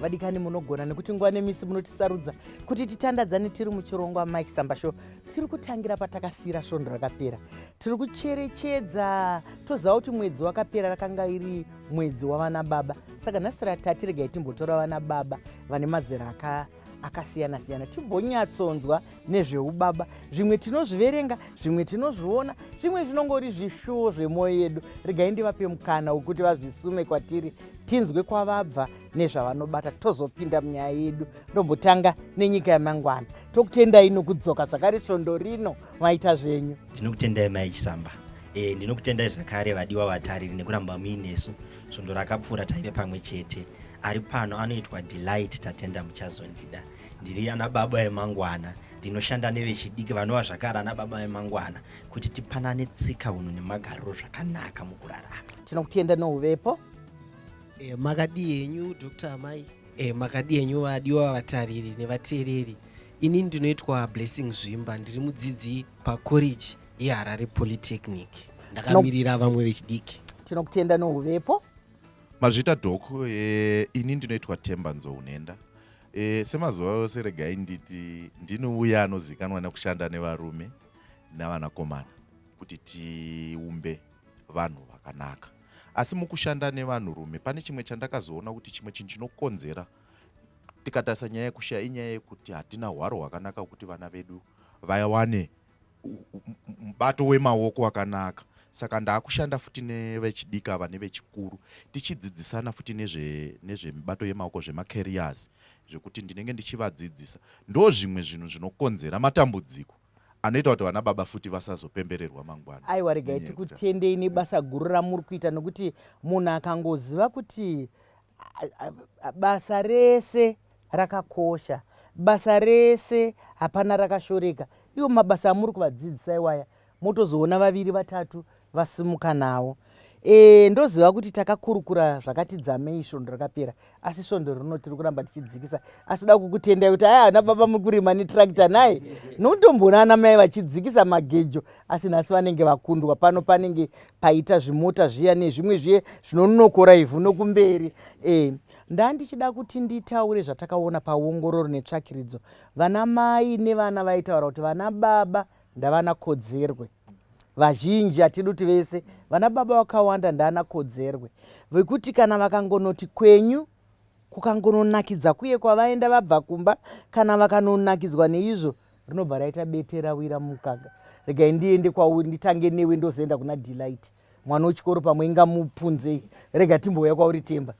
vadikani munogona nekuti nguva nemisi munotisarudza kuti titandadzane tiri muchirongwa mike sambasho tiri kutangira patakasiyira svondo rakapera tiri kucherechedza toziva kuti mwedzi wakapera rakanga iri mwedzi wavana baba saka nhasi ratati regai timbotora vana baba vane mazera akaa akasiyana siyana timbonyatsonzwa nezveubaba zvimwe tinozviverenga zvimwe tinozviona zvimwe zvinongori zvishuwo zvemwoyo yedu regai ndivape mukana wekuti vazvisume kwatiri tinzwe kwavabva nezvavanobata tozopinda munyaya yedu ndombotanga nenyika yamangwana tokutendai nokudzoka zvakare svondo rino maita zvenyu ndinokutendai mai chisamba e, ndinokutendai zvakare vadiwa vatariri nekuramba muinesu svondo rakapfuura taive pamwe chete ari pano anoitwa delight tatenda muchazondida ndiri ana baba emangwana ndinoshanda nevechidiki vanova zvakare ana baba emangwana kuti tipanane tsika unhu nemagariro zvakanaka mukurarama tinokutenda nouvepo e, makadii henyu dr amai e, makadii henyu vadiwa vatariri nevateereri ini ndinoitwa blessing zvimba ndiri mudzidzi pacollege yeharare polytechnic ndakamirira vamwe vechidiki tinokutenda nouvepo mazvita dok e, ini ndinoitwa temba nzounhenda e, semazuva yose regai nditi ndinouya anozivikanwa nekushanda nevarume navanakomana kuti tiumbe vanhu vakanaka asi mukushanda nevanhurume pane chimwe chandakazoona kuti chimwe chinhu chinokonzera tikatarisa nyaya yekushaya inyaya yekuti hatina hwaro hwakanaka kuti vana vedu vawane mubato wemaoko wakanaka saka ndaakushanda futi nevechidiki ava nevechikuru tichidzidzisana futi nezvemibato yemaoko zvemacarriers zvekuti ndinenge ndichivadzidzisa ndo zvimwe zvinhu zvinokonzera matambudziko anoita kuti vana baba futi vasazopembererwa mangwana aiwa regai tikutendei nebasa guru ramuri kuita nokuti munhu akangoziva kuti basa rese rakakosha basa rese hapana rakashoreka iwo mabasa amuri kuvadzidzisa iwaya motozoona vaviri vatatu vasimuka nawo e, ndoziva kuti takakurukura zvakati dzamei svondo rakapera asi svondo rino tiri kuramba tichidzikisa asi da kukutendai kuti aya ana baba muri kurima netrakta naye nokutomboona ana mai vachidzikisa magejo asi nhasi vanenge vakundwa pano panenge paita zvimota zviya nezvimwe zviye zvinonokora ivhu nokumberi e ndandichida kuti nditaure zvatakaona paongororo netsvakiridzo vana mai nevana vaitaura kuti vana baba ndavana kodzerwe vazhinji hatidi kuti vese vana baba vakawanda ndaana kodzerwe vekuti kana vakangonoti kwenyu kukangononakidza kuye kwavaenda vabva kumba kana vakanonakidzwa neizvo rinobva raita bete rawira mumukaka regai ndiende kwauri nditange newe ndozoenda kuna delight mwana wechikoro pamwe ingamupunzei rega timbouya kwauri temba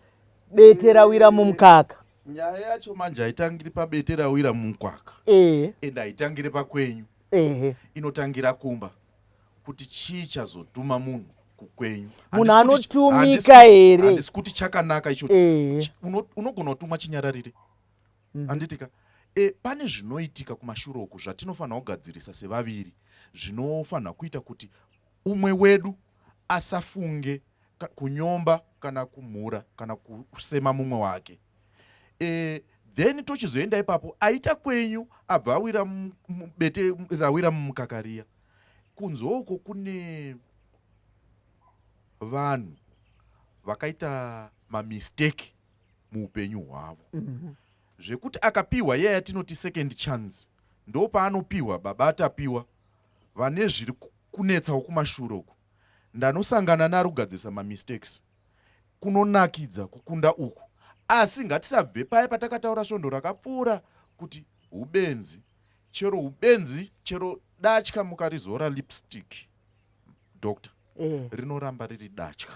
bete rawira mumukaka nyaya yacho manje haitangiri pabete rawira mumukaka ehe and haitangire pakwenyu ehe inotangira kumba kuti chii chazotuma munhu kukwenyu munhu anotumika here handisi kuti chakanaka icho eh. unogona kutumwa chinyararire mhm. handitika mm -hmm e, pane zvinoitika kumashure uku zvatinofanira kugadzirisa sevaviri zvinofanira kuita kuti umwe wedu asafunge kunyomba kana kumhura kana kusema mumwe wake e, then tochizoenda ipapo aita kwenyu abva awira mubete rawira mumukakariya Kunze uko kune vanhu vakaita mamistake muupenyu hwavo mhm. zvekuti akapiwa yaya tinoti second chance ndo paanopiwa baba atapiwa vane zviri kunetsawo kumashure uku ndanosangana narugadzirisa mamistakes kunonakidza kukunda uku asi ngatisabve paya patakataura svondo rakapfuura kuti ubenzi chero hubenzi chero datya mukarizora lipstick doctor eh. rinoramba riri datya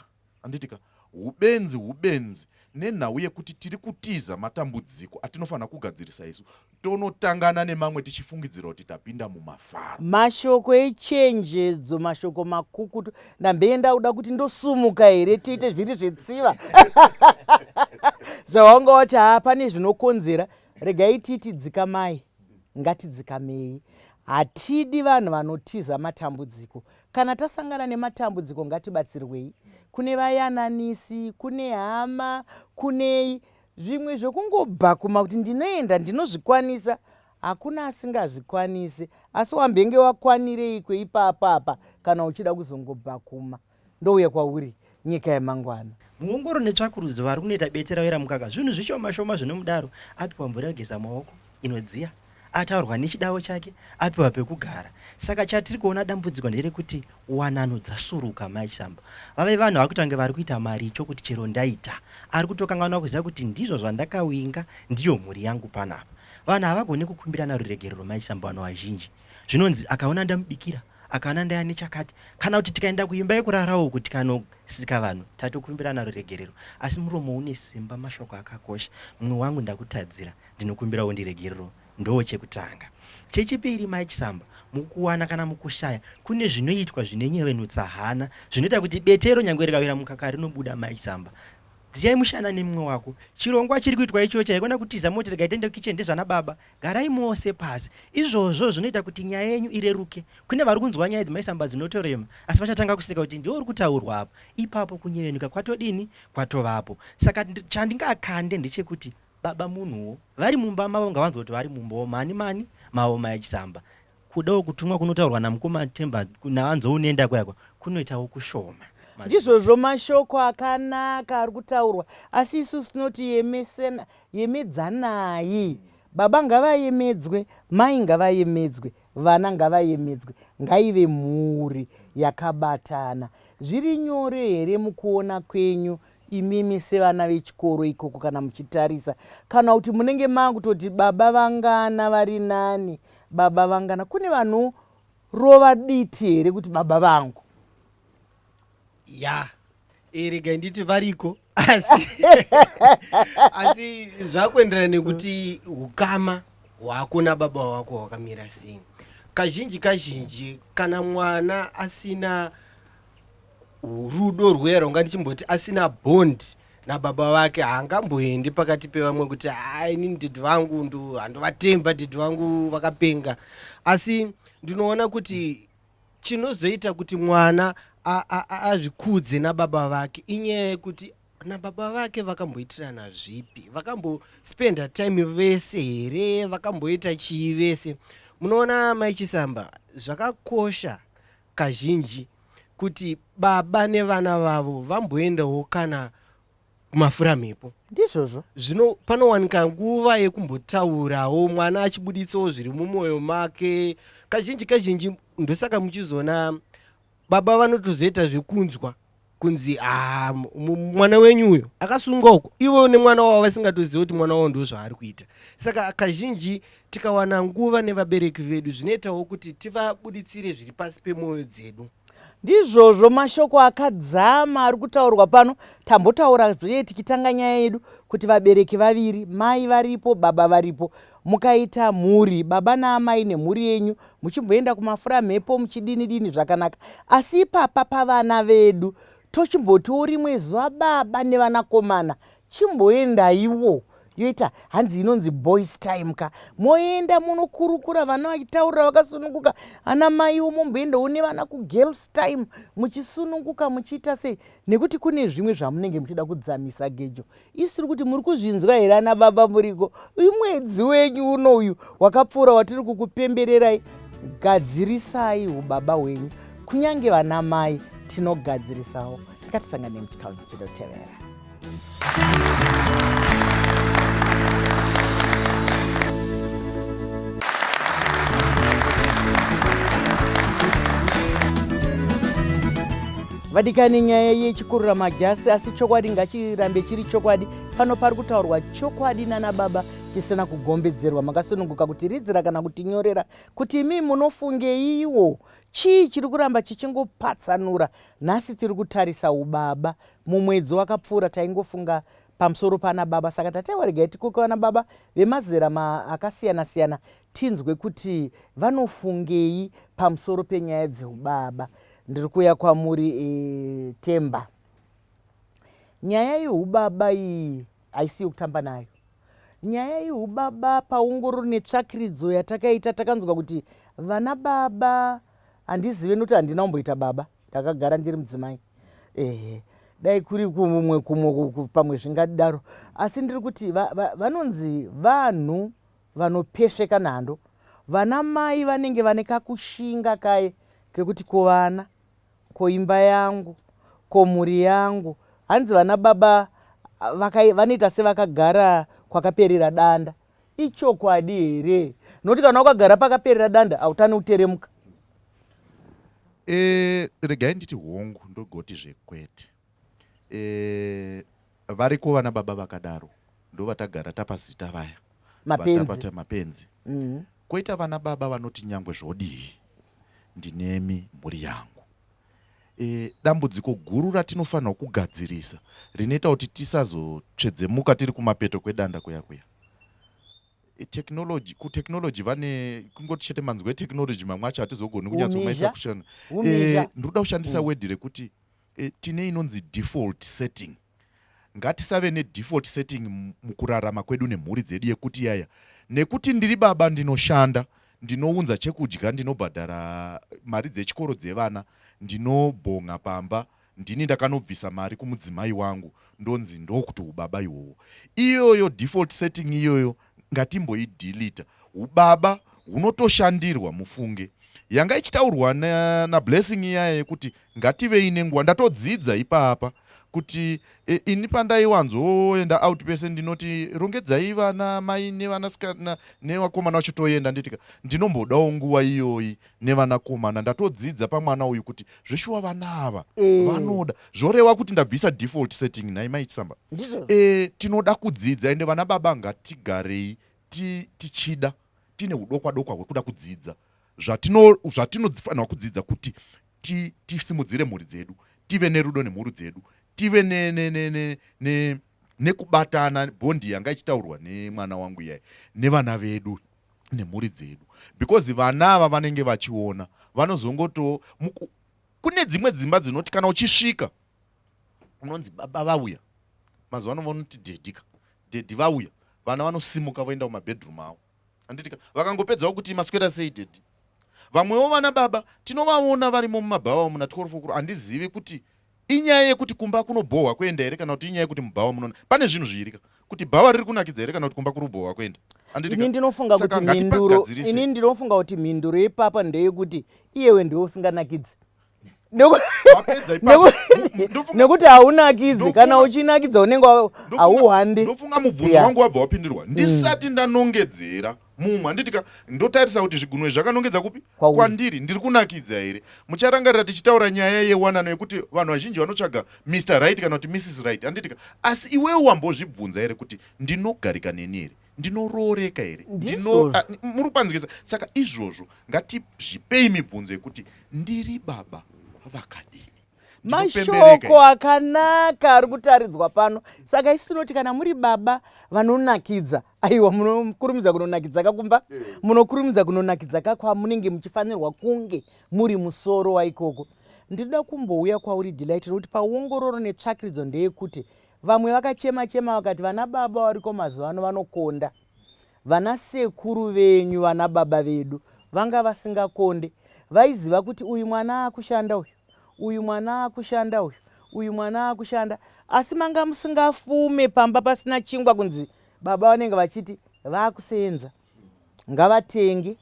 anditika hubenzi hubenzi nenhau yekuti tiri kutiza matambudziko atinofanira kugadzirisa isu tonotangana nemamwe tichifungidzira kuti tapinda mumafaro mashoko echenjedzo mashoko makukutu ndambeye ndauda kuti ndosumuka here tiite zviri zvetsiva zvawanga wati haa pane zvinokonzera regai titi dzikamai Ngatidzikamei. Hatidi vanhu vanotiza matambudziko. Kana tasangana nematambudziko ngatibatsirwei. Kune vayananisi, kune hama, kunei. Zvimwe zvekungobhakuma kuti ndinoenda ndinozvikwanisa hakuna asingazvikwanise asi wambenge wakwanireiko ipapo apa kana uchida kuzongobhakuma. ndouya kwauri nyika yemangwana. Muongoro netsvakurudzo vari kunoita bete ravera mukaka zvinhu zvishoma shoma zvinomudaro apiwa mvura yogeza maoko inodziya ataurwa nechidawo chake apiwa pekugara saka chatiri kuona dambudziko nderekuti wanano dzasuruka mai chisambo vave vanhu vakutange vari kuita maricho kuti chero ndaita ari kutokanganwa kuziva kuti ndizvo zvandakawinga ndiyo mhuri yangu panapa vanhu havagone kukumbirana ruregerero mai chisambo vanhu vazhinji zvinonzi akaona ndamubikira Akana ndaya nechakati kana kuti tikaenda kuimba yekurarawo kuti kanosika vanhu tatokumbira naro regerero asi muromo une simba mashoko akakosha mumwe wangu ndakutadzira ndinokumbira undiregerero ndoo chekutanga chechipiri mai chisamba mukuwana kana mukushaya kune zvinoitwa zvinenyevenutsa hana zvinoita kuti betero nyange rikawira mukaka rinobuda mai chisamba dziyai mushana nemumwe wako chirongwa chiri kuitwa ichocha haikona kutiza moti rega itaende kukichen ndezvana baba Garai mose pasi. Izvozvo zvinoita kuti nyaya yenyu ireruke. Kune vari kunzwa nyaya dzemaisamba dzinotorema asi vachatanga kuseka kuti ndiwe uri kutaurwa apo. Ipapo kunyevenuka kwatodini? Kwatovapo. Saka chandingakande ndechekuti baba munhuwo. Vari mumba mavo ngavanzwe kuti vari mumbawo mani mani mawo maya chisamba. kudawo kutumwa kunotaurwa namukoma temba naanzou nenda kuyakwa kunoitawo kushoma ndizvozvo mashoko akanaka ari kutaurwa asi isu sinoti yemesena yemedzanai baba ngavayemedzwe mai ngavayemedzwe vana ngavayemedzwe ngaive mhuri yakabatana zviri nyore here mukuona kwenyu imimi sevana vechikoro ikoko kana muchitarisa kana kuti munenge maakutoti baba vangana vari nani baba vangana kune vanorova diti here kuti baba vangu ya eregai nditi variko asi asi zvakuenderana nekuti ukama hwakuna baba wako hwakamira sei kazhinji kazhinji kana mwana asina rudo rwuya rwanga ndichimboti asina bond nababa vake haangamboendi pakati pevamwe kuti haa inini dhidhi vangu ndo handovatemba dhidhi vangu vakapenga asi ndinoona kuti chinozoita kuti mwana a- a- a- azvikudze nababa vake inyaya yekuti nababa vake vakamboitirana zvipi vakambospenda time vese here vakamboita chii vese munoona mai chisamba zvakakosha kazhinji kuti baba nevana vavo vamboendawo kana kumafuramhepo ndizvozvo zvino panowanika nguva yekumbotaurawo mwana achibuditsawo zviri mumwoyo make kazhinji kazhinji ndosaka muchizoona baba vanotozoita zvekunzwa kunzi ah, mwana wenyu uyo akasungwa uko ivo nemwana wavo vasingatoziva kuti mwana wavo ndo zvaari kuita saka kazhinji tikawana nguva nevabereki vedu zvinoitawo kuti tivabuditsire zviri pasi pemwoyo dzedu ndizvozvo mashoko akadzama ari kutaurwa pano tambotaura zvee tikitanga nyaya yedu kuti vabereki vaviri mai varipo baba varipo mukaita mhuri baba naamai nemhuri yenyu muchimboenda kumafura mhepo muchidini dini zvakanaka asi ipapa pavana vedu tochimbotiwo rimwe zuva baba nevanakomana chimboendaiwo yoita hanzi inonzi boys time ka moenda munokurukura vana vachitaurira vakasununguka ana maiwo momboendawo nevana kugirls time muchisununguka muchiita sei nekuti kune zvimwe zvamunenge muchida kudzamisa gejo isiri kuti muri kuzvinzwa here ana baba muriko uyu mwedzi wenyu uno uyu wakapfuura watiri kukupembererai gadzirisai ubaba hwenyu kunyange vana mai tinogadzirisawo tikatisangane muchikamu chinotevera vadikani nyaya yechikurura majasi asi chokwadi ngachirambe chiri chokwadi pano pari kutaurwa chokwadi nana baba chisina kugombedzerwa makasununguka kuti ridzira kana kutinyorera kuti imi munofungeiwo chii chiri kuramba chichingopatsanura nhasi tiri kutarisa ubaba mumwedzi wakapfuura taingofunga pamusoro pana baba saka tatewa regai tikoke vana baba vemazera akasiyana-siyana tinzwe kuti vanofungei pamusoro penyaya dzeubaba ndiri kuuya kwamuri e, temba nyaya yeubaba iyi haisi yokutamba nayo nyaya yeubaba paongororo netsvakiridzo yatakaita takanzwa kuti vana baba handizive nokuti handina kumboita baba ndakagara ndiri mudzimai ehe dai kuri kumwe kumwe pamwe zvingadaro asi ndiri kuti vanonzi vanhu vanopesveka nhando vana mai vanenge vane kakushinga kaye kekuti ko vana ko imba yangu ko mhuri yangu hanzi vana baba vanoita sevakagara kwakaperera danda ichokwadi here nokuti kana wakagara pakaperera danda hautane uteremuka e, regai nditi hongu ndogoti zvekwete Eh, variko vana baba vakadaro ndovatagara tapazita vaya mapenzi mapenzi mm -hmm. koita vana baba vanoti nyangwe zvodii ndinemi mhuri yangu e, dambudziko guru ratinofanirwa kugadzirisa rinoita kuti tisazotsvedzemuka tiri kumapeto kwedanda kuya kuya e, technology kutechnology vane kungoti chete manzwi etechnology mamwe acho hatizogoni kunyatsomaisakushana e, ndinoda kushandisa mm. wedhi rekuti E, tine inonzi default setting ngatisave nedefault setting mukurarama kwedu nemhuri dzedu yekuti yaya nekuti ndiri baba ndinoshanda ndinounza chekudya ndinobhadhara mari dzechikoro dzevana ndinobhonga pamba ndini ndakanobvisa mari kumudzimai wangu ndonzi ndokuti ubaba iwowo iyoyo default setting iyoyo ngatimboidhilita ubaba hunotoshandirwa mufunge yanga ichitaurwa nablessing na iyaye yekuti ngativei nenguva ndatodzidza ipapa kuti e, ini pandaiwanzoenda out pese ndinoti rongedzai vana mai nevanasikana nevakomana vacho toenda nditika ndinombodawo nguva iyoyi nevanakomana ndatodzidza pamwana uyu kuti zveshuwa vana ava mm. vanoda zvorewa kuti ndabvisa default setting nhai mai chisamba e, tinoda kudzidza ende vana baba ngatigarei ti, tichida tine udokwa dokwa hwekuda kudzidza zvatinofanirwa kudzidza kuti tisimudzire ti, mhuri dzedu tive nerudo nemhuru dzedu tive ne, ne, ne, ne, ne nekubatana bondi yanga ichitaurwa nemwana wangu iyai nevana vedu nemhuri dzedu because vana ava vanenge vachiona vanozongoto kune dzimwe dzimba dzinoti kana uchisvika unonzi baba vauya mazuva ano vanoti dhedhika dhedhi vauya vana vanosimuka voenda kumabedroom avo anditika vakangopedzawo kuti maswera sei dhedhi vamwewo vana baba tinovaona varimo mumabhawa muna 12 okuro handizivi kuti Inyaya yekuti kumba kunobhohwa kuenda here kana kuti inyaya yekuti mubhawa munona pane zvinhu zviiri ka kuti bhawa riri kunakidza here kana kuti kumba kuri kubhohwa kuenda ini ndinofunga kuti mhinduro ini ndinofunga kuti mhinduro yepapa ndeyekuti iyewe ndiwe usinganakidzi nekuti haunakidzi kana uchinakidza unenge hauhandi ndofunga mubvunzo wangu wabva wapindirwa ndisati ndanongedzera mumwe handiti ka ndotarisa kuti zvigunwe izvi zvakanongedza kupi kwandiri ndiri kunakidza here mucharangarira tichitaura nyaya yewanano yekuti vanhu vazhinji vanotsvaga mr right kana kuti mrs right handiti ka asi iwewo wambozvibvunza here kuti ndinogarika neni here ndinorooreka here muri kupanzikisa saka izvozvo ngatizvipei mibvunzo yekuti ndiri baba vakadini mashoko akanaka ari kutaridzwa pano saka isu tinoti kana muri baba vanonakidza aiwa munokurumidza kunonakidza kakumba eh. munokurumidza kunonakidza kakwamunenge muchifanirwa kunge muri musoro waikoko ndinoda kumbouya kwauri delight nokuti paongororo netsvakiridzo ndeyekuti vamwe vakachema chema vakati vana baba variko mazuva ano vanokonda Vana sekuru venyu vana baba vedu vanga vasingakonde vaiziva kuti uyu mwana akushanda uyu uyu mwana akushanda uyu uyu mwana akushanda asi manga musingafume pamba pasina chingwa kunzi baba vanenge vachiti vakuseenza ngavatenge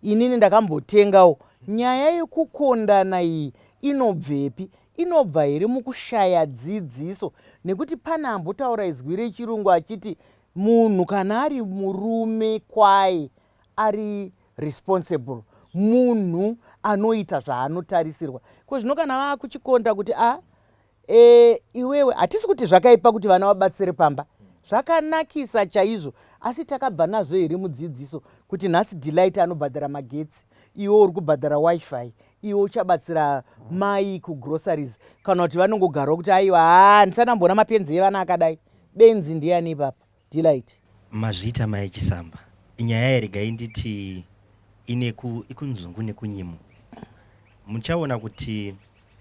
inini ndakambotengawo nyaya yekukondana iyi inobvepi inobva here mukushaya dzidziso nekuti pane ambotaura izwi rechirungu achiti Munhu kana ari murume kwaye ari responsible munhu anoita zvaanotarisirwa ko zvino kana vakuchikonda kuti a ah, e, eh, iwewe hatisi kuti zvakaipa kuti vana vabatsire pamba zvakanakisa chaizvo asi takabva nazvo here mudzidziso kuti nhasi delight anobhadhara magetsi iwe uri kubhadhara wifi iwe uchabatsira mai kugroceries kana kuti vanongogarwa kuti aiwa haa ndisanamboona mapenzi evana akadai benzi ndiyani ipapa delight mazvita mai chisamba inyaya yeregai nditi ine ikunzungu nekunyimo muchaona kuti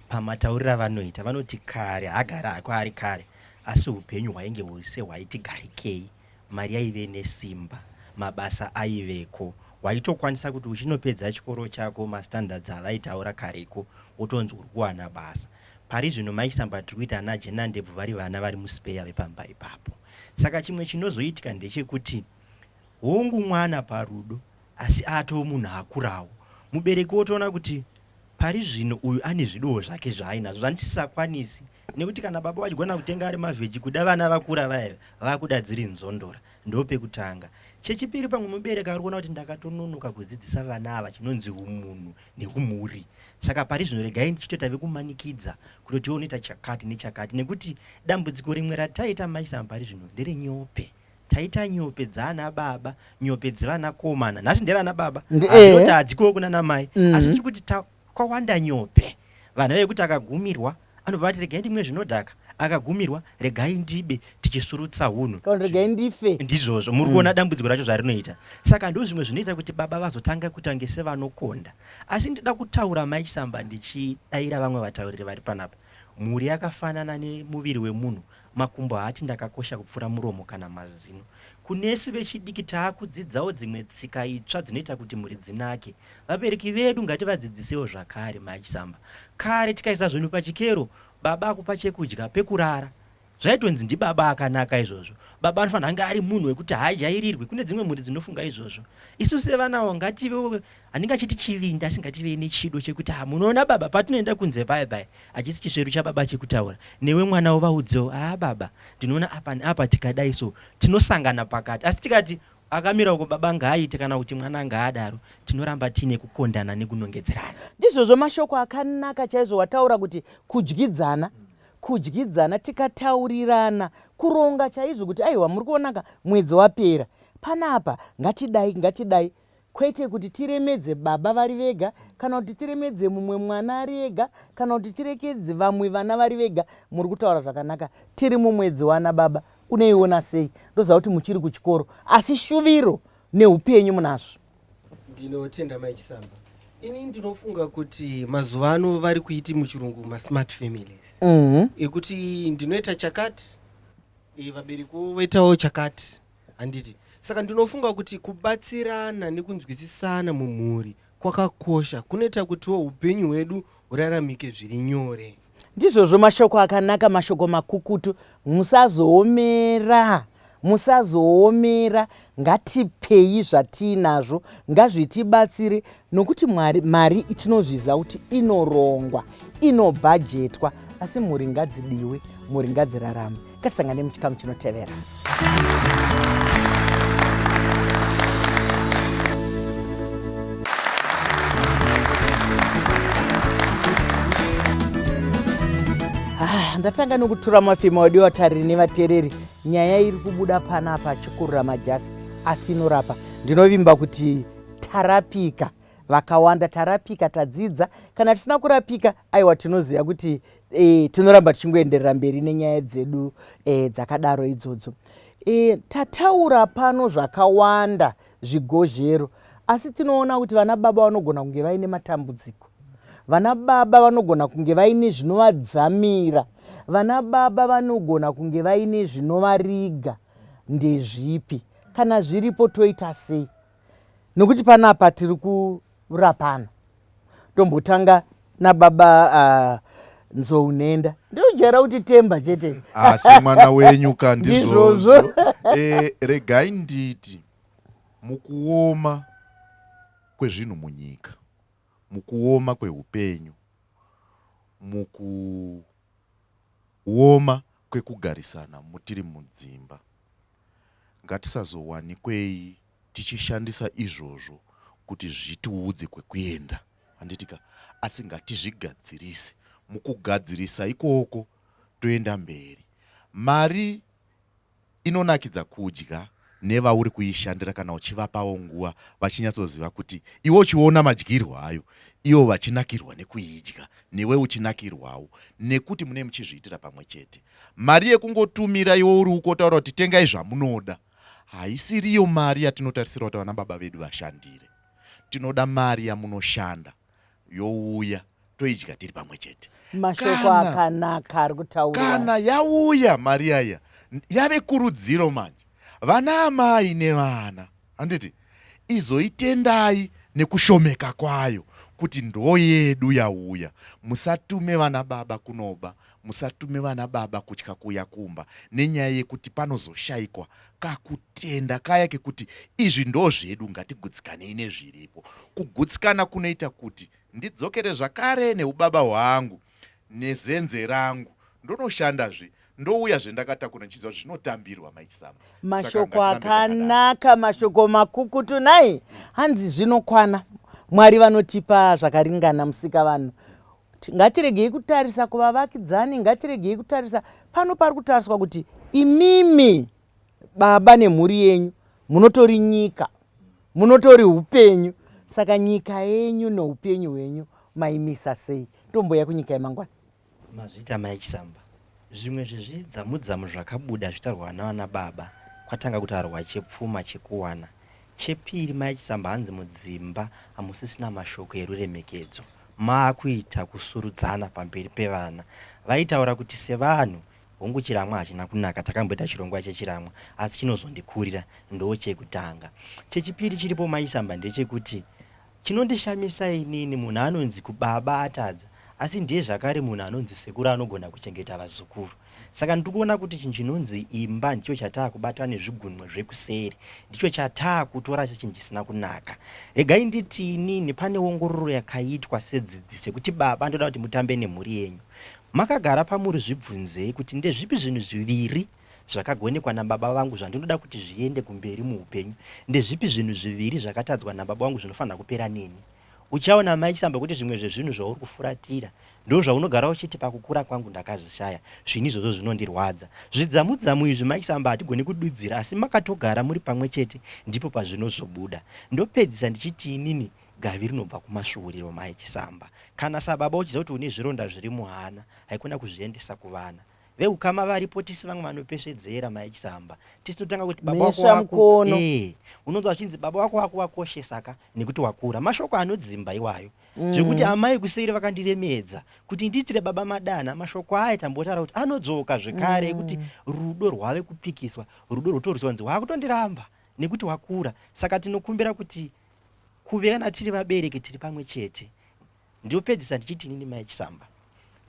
pamataurira vanoita vanoti kare hagara hako ari kare asi upenyu hwainge hwese hwaiti garikei Mari yaive nesimba, mabasa aiveko, waitokwanisa kuti uchinopedza chikoro chako mastandards avaitaura kareko wotonzi uri kuwana basa. Pari zvino Mai Samba tiri kuita ana Jenandebvu vari vana vari muspeya vepamba ipapo. Saka chimwe chinozoitika ndechekuti hongu mwana parudo asi atoo munhu akurawo. Mubereki wotoona kuti pari zvino uyu ane zvidowo zvake zvaainazvo zvandisisakwanisi nekuti kana baba vachigona kutenga ari mavheji kuda vana vakura vaya vakuda dziri nzondora ndopekutanga chechipiri pamwe mubereki ari kuona kuti ndakatononoka kudzidzisa vana ava chinonzi umunhu neumhuri saka pari zvino regai ndichitoita vekumanikidza kutoti unoita chakati nechakati nekuti dambudziko rimwe rataita maisam pari zvino ndere nyope taita nyope dzaana baba nyope dzevanakomana nhasi ndere ana baba eh. azoti hadzikowo kunana mai mm. asi tiri kuti Kwawanda Nyope. Vana vekuti akagumirwa anobva vati regai ndimwe zvinodhaka akagumirwa regai ndibe tichisurutsa hunhu Kana kuti regai ndife. ndizvozvo muri kuona dambudziko racho zvarinoita saka ndozvimwe zvinoita kuti baba vazotanga kuita kunge sevanokonda asi ndida kutaura mai chisamba ndichidaira vamwe vatauriri vari panapa mhuri yakafanana nemuviri wemunhu Makumbo haati ndakakosha kupfuura muromo kana mazino. Kunesu vechidiki taakudzidzawo dzimwe tsika itsva dzinoita kuti mhuri dzinake. Vabereki vedu ngativadzidzisewo zvakare, Maj Samba. Kare tikaisa zvinhu pachikero, baba akupa chekudya, pekurara. Zvaitonzi ndibaba akanaka izvozvo. Baba anofanira kunge ari munhu wekuti haajairirwi. Kune dzimwe mhuri dzinofunga izvozvo. Isu sevanawo ngativewo handingachiti chivindi asi ngativei nechido chekuti ha munoona baba patinoenda kunze paya paya hachisi chisveru chababa chekutaura newe mwana wovaudzewo haa baba ndinoona apa neapa tikadai so tinosangana pakati asi tikati akamira uko baba ngaaite kana kuti mwana ngaadaro tinoramba tiine kukondana nekunongedzerana ndizvozvo mashoko akanaka chaizvo wataura kuti kudyidzana kudyidzana tikataurirana kuronga chaizvo kuti aiwa muri kuonaka mwedzi wapera panapa ngatidai ngatidai Kwete kuti tiremedze baba vari vega kana kuti tiremedze mumwe mwana ari ega kana kuti tirekedze vamwe vana vari vega. Muri kutaura zvakanaka. Tiri mumwedzi wanababa unoiona sei? Ndoziva kuti muchiri kuchikoro asi shuviro neupenyu munazvo. Ndinotenda mai Chisamba. Ini ndinofunga kuti mazuva ano vari kuiti muchirungu masmart families mm -hmm. ekuti ndinoita chakati e, vabereki voitawo chakati handiti saka ndinofunga kuti kubatsirana nekunzwisisana mumhuri kwakakosha kunoita kutiwo upenyu hwedu huraramike zviri nyore ndizvozvo mashoko akanaka mashoko makukutu musazoomera musazoomera ngatipei zvatiinazvo ngazvitibatsire nokuti mwari mari itinozviziva kuti inorongwa inobhajetwa asi mhuri ngadzidiwe mhuri ngadzirarame katisangane muchikamu chinotevera ah, ndatanga nokutura mafima wadiwa tariri nevatereri nyaya iri kubuda panapa chikurura majasi asi inorapa ndinovimba kuti tarapika vakawanda tarapika tadzidza kana tisina kurapika aiwa tinoziva kuti e, tinoramba tichingoenderera mberi nenyaya dzedu e, dzakadaro idzodzo e, tataura pano zvakawanda zvigozhero asi tinoona kuti vana baba vanogona kunge vaine matambudziko vana baba vanogona kunge vaine zvinovadzamira vana baba vanogona kunge vaine zvinovariga ndezvipi kana zviripo toita sei nokuti panapa tiri kurapana tombotanga nababa uh, nzou nhenda ndinojaira kuti temba chete asi ah, mwana wenyu ka ndizvozvo eh, regai nditi mukuoma kwezvinhu munyika mukuoma kweupenyu muku Kuoma kwekugarisana mutiri mudzimba. Ngatisazowanikwei tichishandisa izvozvo kuti zvitiudze kwekuenda, handiti ka? Asi ngatizvigadzirise. Mukugadzirisa ikoko toenda mberi. Mari. Inonakidza kudya nevauri kuishandira kana uchivapawo nguva vachinyatsoziva kuti iwe uchiona madyirwo ayo ivo vachinakirwa nekuidya newe uchinakirwawo nekuti munee muchizviitira pamwe chete. Mari yekungotumira iwe uri uko wotaura kuti tengai zvamunoda haisiriyo mari yatinotarisira kuti vanababa vedu vashandire. Tinoda mari yamunoshanda youya toidya tiri pamwe chete mashoko akanaka ari kutaura kana yauya mari yaya yave kurudziro manje vana amai nevana handiti izoitendai nekushomeka kwayo kuti ndo yedu yauya musatume vana baba kunoba Musatume vana baba kutya kuuya kumba nenyaya yekuti panozoshaikwa kakutenda kaya kekuti izvi ndo zvedu ngatigutsikanei nezviripo. Kugutsikana kunoita kuti ndidzokere zvakare neubaba hwangu nezenze rangu ndonochandazve ndouya zvendakatakura ndichiziva kuti zvinotambirwa maisama mashoko akanaka mashoko makukutu nai hanzi zvinokwana mwari vanotipa zvakaringana musika vanhu Ngatiregei kutarisa kuvavakidzani, ngatiregei kutarisa pano pari kutariswa kuti imimi baba nemhuri yenyu munotori nyika, munotori upenyu. Saka nyika yenyu noupenyu hwenyu maimisa sei? Tomboya kunyika yemangwana. Mazvita Mike Samba. Zvimwe zvezvidzamudzamu zvakabuda zvitarwa navana baba kwatanga kutarwa chepfuma chekuwana. Chepiri mai Chisamba hanzi mudzimba hamusisina mashoko eruremekedzo maakuita kusurudzana pamberi pevana. Vaitaura kuti sevanhu hongu chiramwa hachina kunaka takamboita chirongwa chechiramwa asi chinozondikurira ndoochekutanga. Chechipiri chiripo mai Chisamba ndechekuti Chinondishamisa inini munhu anonzi kubaba atadza asi ndiye zvakare munhu anonzi sekuru anogona kuchengeta vazukuru. Saka ndiri kuona kuti chinhu chinonzi imba ndicho chataakubata nezvigunwe zvekuseri. Ndicho chataakutora sechinhu chisina kunaka. Regai nditi inini pane ongororo yakaitwa sedzidziso yekuti baba ndoda kuti mutambe nemhuri yenyu. Makagara pamuri zvibvunzei kuti ndezvipi zvinhu zviviri zvakagonekwa nababa vangu zvandinoda kuti zviende kumberi muupenyu. Ndezvipi zvinhu zviviri zvakatadzwa nababa vangu zvinofanira kupera neni? Uchaona amai Chisamba kuti zvimwe zvezvinhu zvauri kufuratira ndozvaunogara uchiti pakukura kwangu ndakazvishaya. Zvinhu izvozvo zvinondirwadza. Zvidzamudzamu izvi mai Chisamba hatigoni kududzira asi makatogara muri pamwe chete ndipo pazvinozobuda. Ndopedzisa ndichiti inini gavi rinobva kumasvuuriro mai Chisamba. Kana sababa uchiziva kuti une zvironda zviri muhana haikona kuzviendesa kuvana. vehukama varipo tisi vamwe vanopesvedzera maechisamba tisi totanga kuti baba wako wako eh unonzwa vachinzi baba wako wako wakoshesa ka nekuti wakura mashoko anodzimba iwayo mm. zvekuti amai kuseri vakandiremedza kuti ndiitire baba madana mashoko aya tambotaura kuti anodzoka zvekare ekuti mm. rudo rwave kupikiswa rudo rwotorwisa kunzi wakutondiramba nekuti wakura saka tinokumbira kuti kuve kana tiri vabereki tiri pamwe chete Ndiopedzisa ndichiti inini mai Chisamba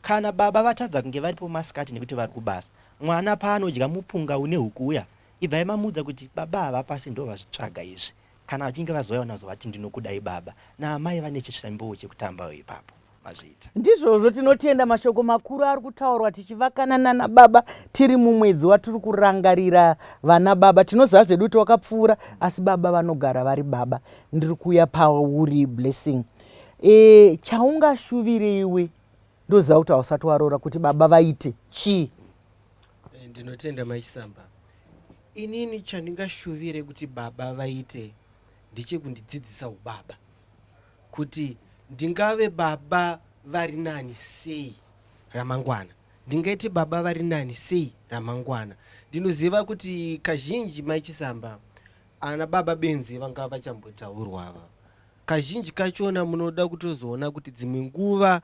kana baba vatadza kunge varipo masikati nekuti vari kubasa mwana paanodya mupunga une huku uya ibvai mamuudza kuti baba havapasi ndovazvitsvaga izvi kana vachinge vazouya vanazovati ndinokudai baba naamai vane chisvimbowo chekutambawo ipapo mazviita ndizvozvo tinotenda mashoko makuru ari kutaurwa tichivakana nana baba tiri mumwedzi watiri kurangarira vana baba tinoziva zvedu kuti wakapfuura asi baba vanogara vari baba ndiri kuuya pauri blessing e, chaungashuvire iwe ndoziva kuti hausati waroora kuti baba vaite chii eh, ndinotenda maisamba inini chandingashuvire kuti baba vaite ndechekundidzidzisa ubaba kuti ndingave baba vari nani sei ramangwana ndingaite baba vari nani sei ramangwana ndinoziva kuti kazhinji maichisamba ana baba benzi vanga vachambotaurwa ava Kazhinji kachona munoda kutozoona kuti dzimwe nguva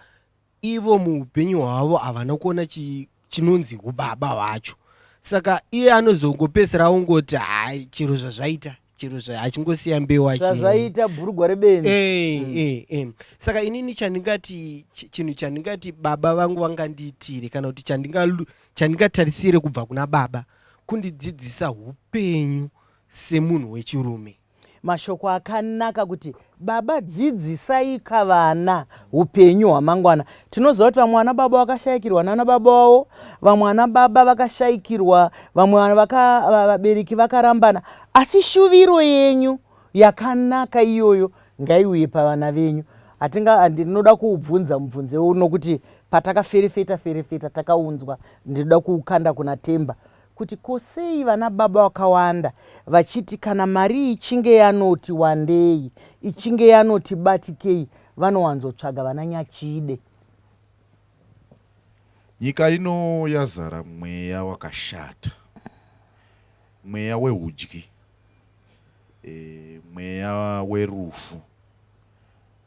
ivo muupenyu hwavo havana kuona chinonzi ubaba hwacho saka iye anozongopedzisira ongoti hai chero zvazvaita chero achingosiya mbewa zvazvaita bhurugwa rebenzi eh, mm. eh, eh. saka inini chandingati chinhu chandingati baba vangu vangandiitire kana kuti chandingatarisire kubva kuna baba kundidzidzisa upenyu semunhu wechirume Mashoko akanaka kuti baba dzidzisaika vana upenyu hwamangwana. Tinoziva kuti vamwe vana baba vakashaikirwa nana baba wavo, vamwe vana baba vakashaikirwa, vamwe vana vaka, va- vabereki vakarambana, asi shuviro yenyu yakanaka iyoyo ngaiuye pavana venyu. Hatinga handi- ndinoda kuubvunza mubvunze uno kuti patakaferefeta ferefeta takaunzwa ndinoda kuukanda kuna Temba kuti ko sei vana baba vakawanda vachiti kana mari ichinge yanoti wandei ichinge yanoti batikei vanowanzotsvaga vana nyachide nyika ino yazara mweya wakashata mweya weudyi e, mweya werufu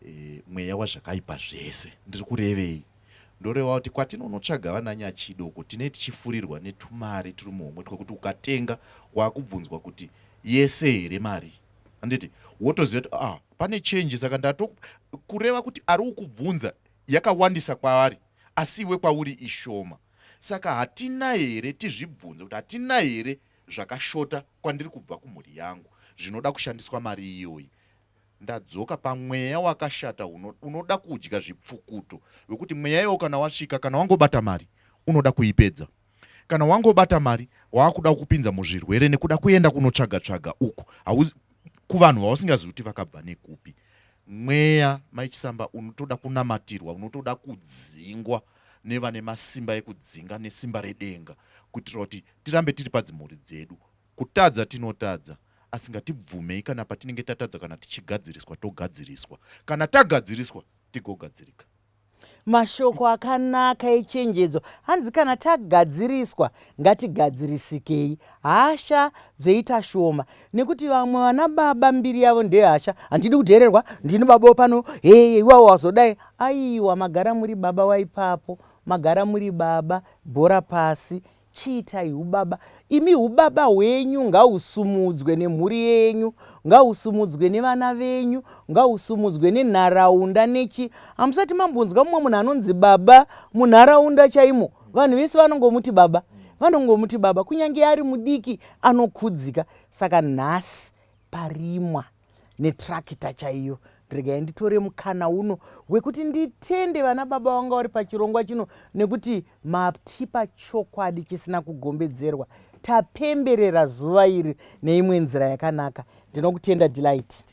e, mweya wazvakaipa zvese ndiri kurevei Ndorevawo kuti kwatinonotsvaga vana Nyachido uko tinee tichifurirwa netumari turi muhomwe twekuti ukatenga wakubvunzwa kuti yese here mari handiti wotoziva kuti ah, pane change saka ndato kureva kuti ari ukubvunza yakawandisa kwaari asi iwe kwauri ishoma saka hatina here tizvibvunze kuti hatina here zvakashota kwandiri kubva kumhuri yangu zvinoda kushandiswa mari iyoyi Ndadzoka pamweya wakashata uno, unoda kudya zvipfukuto wekuti mweya iwo kana wasvika kana wangobata mari unoda kuipedza kana wangobata mari waakuda kupinza muzvirwere nekuda kuenda kunotsvaga tsvaga uku kuvanhu vausingazivi kuti vakabva nekupi mweya maichisamba unotoda kunamatirwa unotoda kudzingwa nevane masimba ekudzinga nesimba redenga kuitira kuti tirambe tiri padzimhuri dzedu kutadza tinotadza asi ngatibvumei kana patinenge tatadza kana tichigadziriswa togadziriswa kana tagadziriswa tigogadzirika mashoko akanaka echenjedzo hanzi kana tagadziriswa ngatigadzirisikei hasha dzoita shoma nekuti vamwe vana baba mbiri yavo ndeyehasha handidi kudhererwa ndini baba pano hee iwawo wazodai aiwa magara muri baba waipapo magara muri baba bhora pasi Chiitai hubaba imi, hubaba hwenyu ngahusumudzwe nemhuri yenyu, ngahusumudzwe nevana venyu, ngahusumudzwe nenharaunda nechi. Hamusati mambonzwa mumwe munhu anonzi baba munharaunda chaimo, vanhu vese vanongomuti baba, vanongomuti baba, kunyange ari mudiki anokudzika. Saka nhasi parimwa. netrakita chaiyo regai nditore mukana uno wekuti nditende vana baba vanga vari pachirongwa chino nekuti matipa chokwadi chisina kugombedzerwa tapemberera zuva iri neimwe nzira yakanaka ndinokutenda delight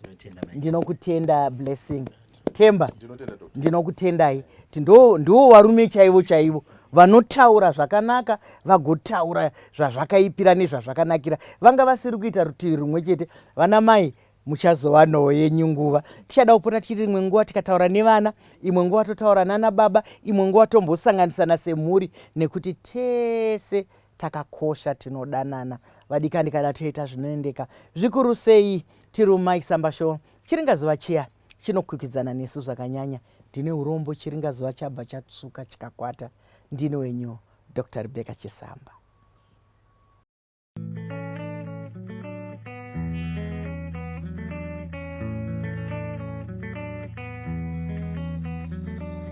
ndinokutenda blessing Themba, ndinokutendai. Ndiwo varume chaivo chaivo vanotaura zvakanaka vagotaura zvazvakaipira nezvazvakanakira vanga vasiri kuita rutivi rumwe chete vana mai muchazova noo yenyu nguva tichada kupona tichiti imwe nguva tikataura nevana imwe nguva totaura nana baba imwe nguva tombosanganisana semhuri nekuti tese takakosha tinodanana vadikani kana toita zvinoendeka zvikuru sei tiri umaisambasho chiringazuva chiya chinokwikwidzana nesu zvakanyanya ndine urombo chiringa zuva chabva chatsvuka chikakwata ndine wenyu dr rebecca chisamba